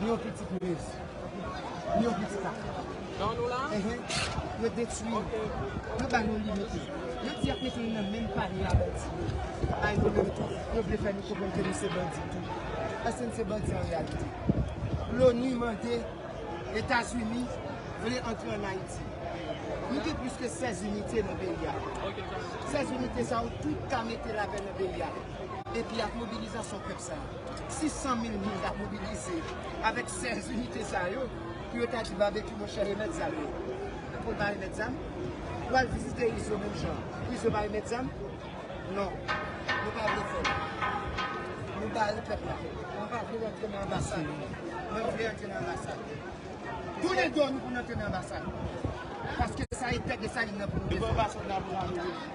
Ni yon pitit minis. Ni yon pitit la. Nan nou la? Ehe. Yo detwi. Yo ba nou limite. Yo di ap mete nou nan menm panye a bandi yo. Ay nou menm tou. Yo vle fè nou konprann ke nou se bandi tou. Eske nou se bandi an reyalite? L'ONU mande Etazini vle antre an Ayiti. Nou gen plis ke 16 inite nan peyi a. 16 inite sa yo tout ka mete lapè nan peyi a. Epi ak mobilizasyon pèp sa a. 600 mil moun tap mobilize avèk 16 inite sa yo pou yo ta di Babekyou monchè remèt zam yo pou l pa remèt zam? Pou al vizite Izo menm jan pou Izo pa remèt zam? Non, nou pa vle fè l. Nou bare pèp la. Mwen pa vle l antre nan anbasad. Mwen vle antre nan anbasad. Tounen do nou pou nou antre nan anbasad. Paske sa e tèt Desalin nan pou nou defann.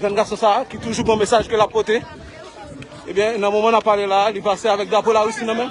Jèn gason sa a ki toujou gon mesaj ke l ap pote, ebyen nan moman n ap pale la a li pase avèk drapo Larisi nan men.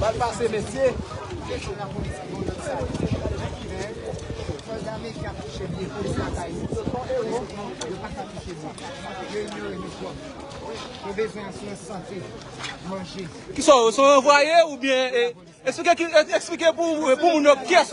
Bal pase mesye. Kisa yo se yon anvwaye oubyen esplike pou moun yo kyes ou ye.